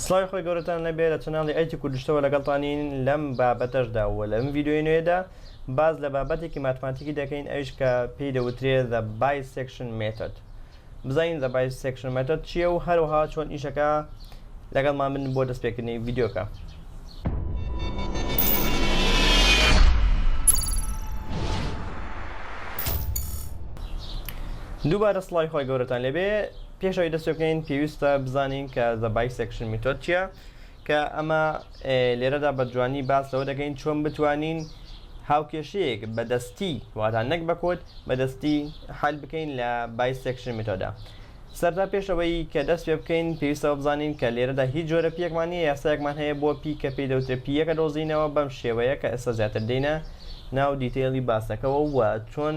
سڵاوی خۆی گەورەتان لەبێ لە چناڵی ئەیتی کوردشتەوە لەگەڵتانین لەم بابەتەشدا و لەم ڤیددیوی نوێدا باز لە بابەتێکی ماتماتیکی دەکەین ئەوش کە پێی دەوترێ زە بای سێکشن مێتەد بزانین زە بای سێکشن مێتەد چییە و هەروها چۆن ئیشەکە لەگەڵمان من بۆ دەستپێکردنی ڤیددیوکە. دووبارە سڵاوی خۆی گەورەتان لەبێ پێش ئەوەی دەست پێ بکەین پێویستە بزانین کە The Bisection Method چییە کە ئەمە لێرەدا بە جوانی باس لەوە دەکەین چۆن بتوانین هاوکێشەیەک بە دەستی واتە نەک بە کۆد بە دەستی حل بکەین لە Bisection Method. سەرتا پێش ئەوەی کە دەست پێ بکەین پێویستەوە بزانین کە لێرەدا هیچ جۆرە پیەکمان نییە یاسایەکمان هەیە بۆ پی کە پێی دەوترێت پییەکە دۆزینەوە بەم شێوەیە کە ئێستا زیاتر دێینە ناو دیتەیڵی باسەکەوە و چۆن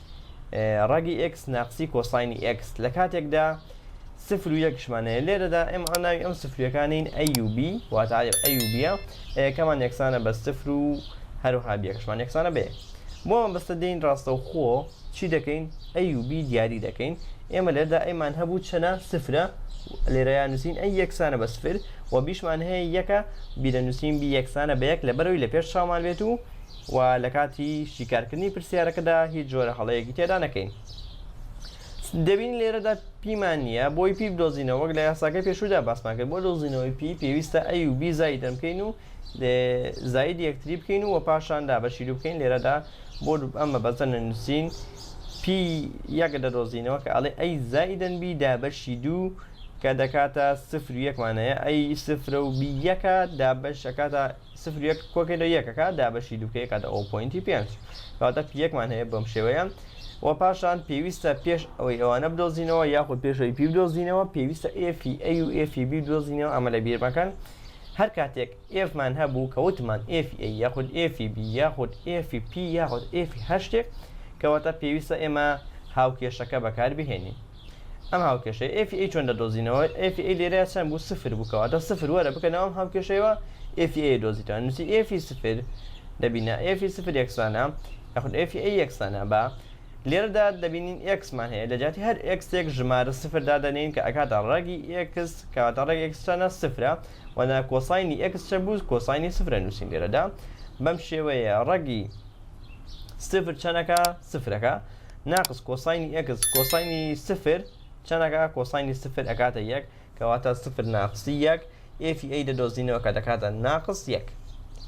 ڕەگی ئێکس ناقسی کۆساینی ئێکس لە کاتێکدا سفر و یەکشمانەیە لێرەدا ئێمە ئەناوی ئەم سفرەکانین ئەیUB واتاێ ئەیوبە ئەیەکەمان یەکسانە بە سفر و هەروها بیەکشمان یەکسانە بێ بۆ ئەم بەستە دێین ڕاستە و خۆ چی دەکەین ئەیوبی دیاری دەکەین ئێمە لێردا ئەیمان هەبوو چەنە سفرە لێرەیان نووسین ئەی یەکسانە بە سفر و بیشمان هەیە یەکە بیرە نووسین بی یەکسانە بە یەک لە بەرەوەی لە پێش چامان بێت و و لە کاتی شیکارکردنی پرسیارەکەدا هیچ جۆرە هەڵەیەکی تێدا نەکەین. دەبینین لێرەدا پیمان نییە بۆی پی بدۆزینەوە وەک لە یاساکەی پێشوودا باسمان کرد بۆ دۆزینەوەی پی پێویستە ئەی و بی زایدن بکەین و زاید یەکتری بکەین و پاشان دابەشی دوو بکەین لێرەدا بۆ ئەم مەبەستە نەنووسین پی یەک دەدۆزینەوە کە ئەڵێ ئەی زایدن بی دابەشی دوو کە دەکاتە سفر و یەکمانەیە ئەی سفرە و بی یەکە دابەش ئەکاتە سفر و یەک کۆکەی لە یەک ئەکات دابەشی دوو کەی ئەکاتە ئەو پۆینتی پێنج کەواتە پی یەکمان هەیە بەم شێوەیە و پاشان پێویستە پێش ئەوەی ئەوانە بدۆزینەوە یاخود پێشەوەی پی بدۆزینەوە پێویستە ئێفی ئەی و ئێفی بی بدۆزینەوە ئەمە لە بیر مەکەن هەر کاتێک ئێفمان هەبوو کە وتمان ئێفی ئەی یاخود ئێفی بی یاخود ئێفی پی یاخود ئێفی هەر شتێک کەواتە پێویستە ئێمە هاوکێشەکە بەکاربهێنین ئەم هاوکێشەیە ئێفی ئەی چۆن دەدۆزینەوە ئێفی ئەی لێرە چەند بوو سفر بوو کەواتە سفر وەرە بکەنەوە ئەم هاوکێشەیەوە ئێفی ئەی دۆزیتەوە نووسی ئێفی سفر دەبینە ئێفی سفر یەکسانە یاخود ئێفی ئەی یەکسانە بە لێرەدا دەبینین ئێکسمان هەیە لە جیاتی هەر ئێکسێک ژمارە سفر دادەنێین کە ئەکاتە ڕەگی ئێکس کەواتە ڕێک ئێکسچانە سفرە وەنا کۆساینی ئێکس چە بوو کۆساینی سفرە نووسین لێرەدا بەم شێوەیە ڕەگی سفر چەنەکە سفرەکە ناقس کۆساینی ئێکس کۆساینی سفر چەندەکە کۆساینی سفر ئەکاتە یەک کەواتە سفر ناقسی یەک ئێفی ئەی دەدۆزینەوە کە دەکاتە ناقس یەک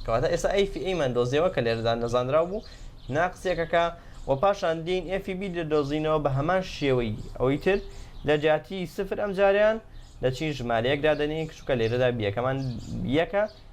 کەواتە ئێستا ئەیفی ئەیمان دۆزیەوە کە لێرەدا نەزانراو بوو ناقسیەکەکە و پاشان دین ئێفی بی دەدۆزینەوە بە هەمان شێوەی ئەوەی تر لە جیاتی سفر ئەم جاریان دەچین ژمارەیەک دادەنین کچووکە لێرەدا بیەکەمان یەکە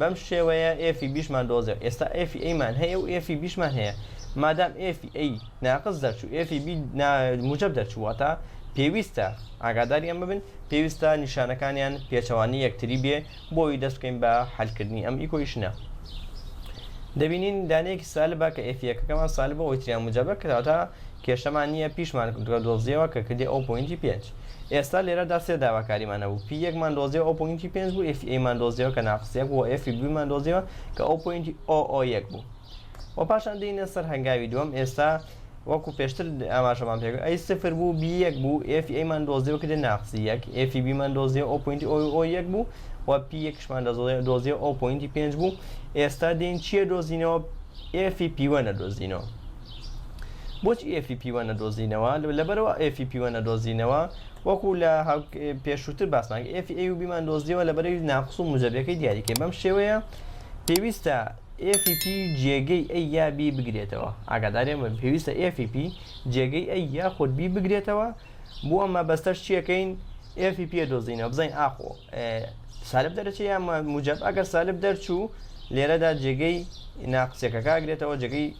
بەم شێوەیە ئێفی بیشمان دۆزێ ئێستا ئێفی ئەیمان هەیە و ئێفی بیشمان هەیە مادام ئێفی ئەی ناقز دەرچوو ئێفی بی موجب دەرچوو واتە پێویستە ئاگاداری ئەم ببن پێویستە نیشانەکانیان پێچەوانی یەکتری بێ بۆی دەست بکەین بە حلکردنی ئەم ئیکۆیشنە دەبینین دانەیەکی سالبە کە ئێفیەکەکەمان سالبە ئەوی تریان موجبە کەواتە کێشەمان نییە پیشمان دۆزیەوە کە کردی ئەو پوینتی پێنج ئێستا لێرەدا سێ داواکاریمان هەبوو، پی یەک مان دۆزیەوە ئەو پۆینتی پێنج بوو، ئێفی ئەیمان دۆزیەوە کە ناقس یەک بوو و ئێفی بوویمان دۆزیەوە کە ئەو پۆینتی ئۆ ئۆ یەک بوو. وە پاشان دێینە سەر هەنگاوی دووەم، ئێستا وەکو پێشتر ئاماژەمان پێ کرد ئەی سفر بوو بی یەک بوو، ئێفی ئەیمان دۆزیەوە کە دێت ناقسی یەک، ئێفی بیمان دۆزیەوە ئەو پۆینتی ئۆ ئۆ یەک بوو و پی یەکیشمان دۆزیەوە ئەو پۆینتی پێنج بوو، ئێستا دێین چیە دۆزینەوە؟ ئێفی پی وەن ئەدۆزینەوە. بۆچی ئێفی پیوە نەدۆزینەوە لەبەرەوە ئێفی پیوە نەدۆزینەوە وەکو لە پێشووتر باسمان ئێفی ئەی و بیمان دۆزیەوە لە بەرەی ناقص و موجەبیەکەی دیاریکە بەم شێوەیە پێویستە ئێفی پی جێگەی ئەی یا بی بگرێتەوە ئاگادارێ من پێویستە ئێفی پی جێگەی ئەی یا خۆت بی بگرێتەوە بۆ ئەمە بەستەر چیەکەین ئێفی پێ دۆزینەوە بزین ئاخۆ سالب دەرەچە یان موجب ئەگەر سالب دەرچوو لێرەدا جێگەی ناقسەکە کاگرێتەوە جێگەی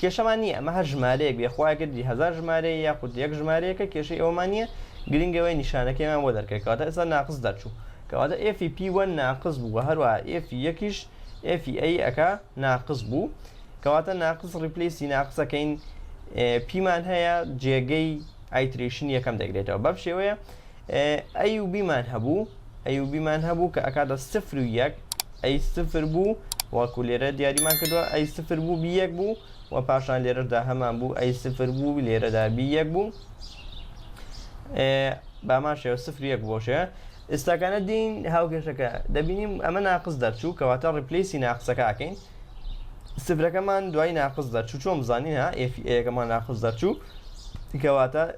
کێشەمان نییە ئەمە هەر ژمارەیەک بێ خوا ئەگەر دیت هەزار ژمارەیە یاخود یەک ژمارەیەکە کێشەی ئەوەمان نییە گرنگە ئەوەیە نیشانەکەیمان بۆ دەرکەی کەواتە ئێستا ناقس دەرچوو کەواتە ئێفی پی وەن ناقس بوو وە هەروەها ئێفی یەکیش ئێفی ئەی ئەکا ناقس بوو کەواتە ناقس ڕیپلیسی ناقسەکەین پیمان هەیە جێگەی ئایتریشن یەکەم دەگرێتەوە بەم شێوەیە ئەیوبیمان هەبوو ئەیوبیمان هەبوو کە ئەکاتە سفر و یەک ئەی سفر بوو وەکو لێرە دیاریمان کردووە ئەی سفر بوو بی یەک بوو و پاشان لێرەدا هەمان بوو ئەی سفر بوو لێرەدا بی یەک بوو بامان شێوە سفر یەک بۆشەیە ئێستاکانە دین هاوکێشەکە دەبینیم ئەمە ناقص دەرچوو کەواتە ڕیپلیسی ناقسەکەکەین سفرەکەمان دوای ناقص دەرچوو چۆن بزانین ها ئێفی ئەیەکەمان ناقص دەرچوو کەواتە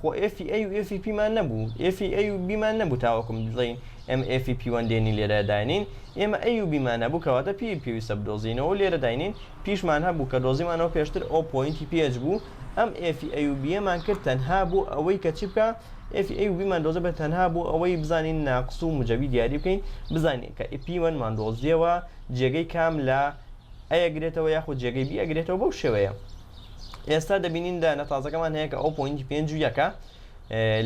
خۆ ئێفی ئەی و ئێفی پیمان نەبوو ئێفی ئەی و بیمان نەبوو تاوەکو بڵێین ئێمە ئێفی پی وەن دێنین لێرە داینین ئێمە ئەی و بیمان هەبوو کەواتە پی پێویستە بدۆزینەوە و لێرە داینین پیشمان هەبوو کە دۆزیمانەوە پێشتر ئەو پۆینتی پی ئێچ بوو ئەم ئێفی ئەی و بیەمان کرد تەنها بۆ ئەوەی کە چی بکا ئێفی ئەی و بیمان دۆزە بێت تەنها بۆ ئەوەی بزانین ناقس و موجەبی دیاری بکەین بزانین کە ئیپی وەنمان دۆزیەوە جێگەی کام لە ئەیەگرێتەوە یاخود جێگەی بی ئەگرێتەوە بەو شێوەیە ئێستا دەبینین دانە تازەکەمان هەیە کە ئەو پوینتی پێنج و یەکە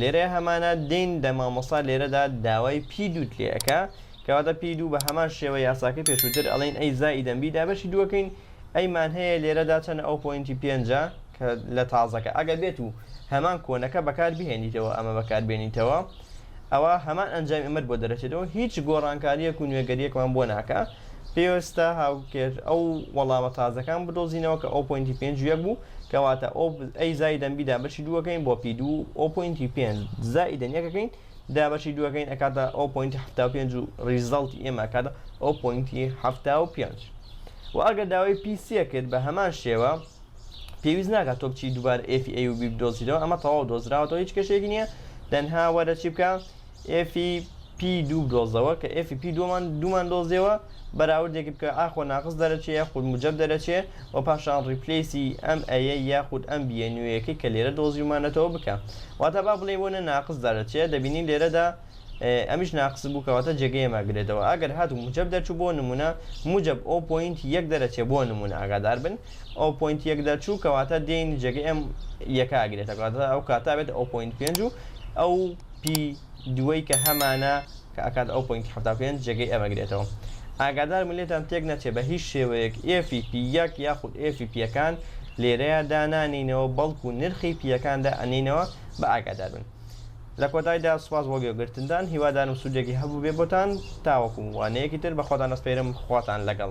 لێرە هەمانە دین دە مامۆستا لێرەدا داوای پی دووت لێەکە کەواتە پی دوو بە هەمان شێوە یاساکە پێشووتر ئەڵین ئەی زای دەمبی دا بەشی دووەکەین ئەیمان هەیە لێرەدا چەند ئەو پوینتی پێنجە کە لە تازەکە ئەگە بێت و هەمان کۆنەکە بەکار بهێنیتەوە ئەمە بەکاربێنیتەوە ئەوە هەمان ئەنجامی ئەمر بۆ دەرەچێتەوە هیچ گۆڕانکاریەک و نوێگەریەکمان بۆ ناکە پێوستە هاوکێش ئەو وەڵامە تازەکان بدۆزینەوە کە ئۆ پۆینتی پێنج و یەک بوو کەواتە ئۆ ئەی زایدەن بی دابەشی دووەکەین بۆ پی دوو ئۆ پۆینتی پێنج زایدەن یەکەکەین دابەشی دووەکەین ئەکاتە ئۆ پۆینتی هەفتا و پێنج و ڕیزەڵتی ئێمە ئەکاتە ئۆ پۆینتی هەفتا و پێنج و ئەگەر داوای پی سێ کرد بە هەمان شێوە پێویست ناکات تۆ بچی دووبارە ئێفی ئەی و بی بدۆزیتەوە ئەمە تەواو دۆزراوەتەوە هیچ کەشێکی نییە تەنها وەرە چی بکە ئێفی پی دوو بدۆزەوە کە ئێفی پی دووەمان دوومان دۆزیەوە بەراوردێکی بکە ئاخۆ ناقص دەرەچێ یاخود موجب دەرەچێ و پاشان ڕیپلیسی ئەم ئەیە یاخود ئەم بیە نوێیەکەی کە لێرە دۆزیومانەتەوە بکە واتە با بڵێ بۆنە ناقص دەرەچێ دەبینین لێرەدا ئەمیش ناقص بوو کەواتە جێگەی ماگرێتەوە ئەگەر هاتو موجب دەرچوو بۆ نمونە موجب ئەو پوینت یەک دەرەچێ بۆ نمونە ئاگادار بن ئەو پوینت یەک دەرچوو کەواتە دێین جێگەی ئەم یەکە ئاگرێتە کاتە ئەو کاتا بێت ئەو پوینت پێنج و ئەو پی دووەی کە هەمانە کە ئەکات ئەو پۆینتی حەفتا و پێنج جێگەی ئێمە گرێتەوە ئاگادار بن لێتان تێک نەچێ بە هیچ شێوەیەک ئێفی پی یەک یاخود ئێفی پییەکان لێرەیە دانانینەوە بەڵکو نرخی پییەکان دا ئەنینەوە بە ئاگادار بن لە کۆتایدا سوپاس بۆ گوێگرتنتان هیوادارم سوودێکی هەبووبێ بۆتان تاوەکو وانەیەکی تر بە خۆتان ئەسپێرم خواتان لەگەڵ.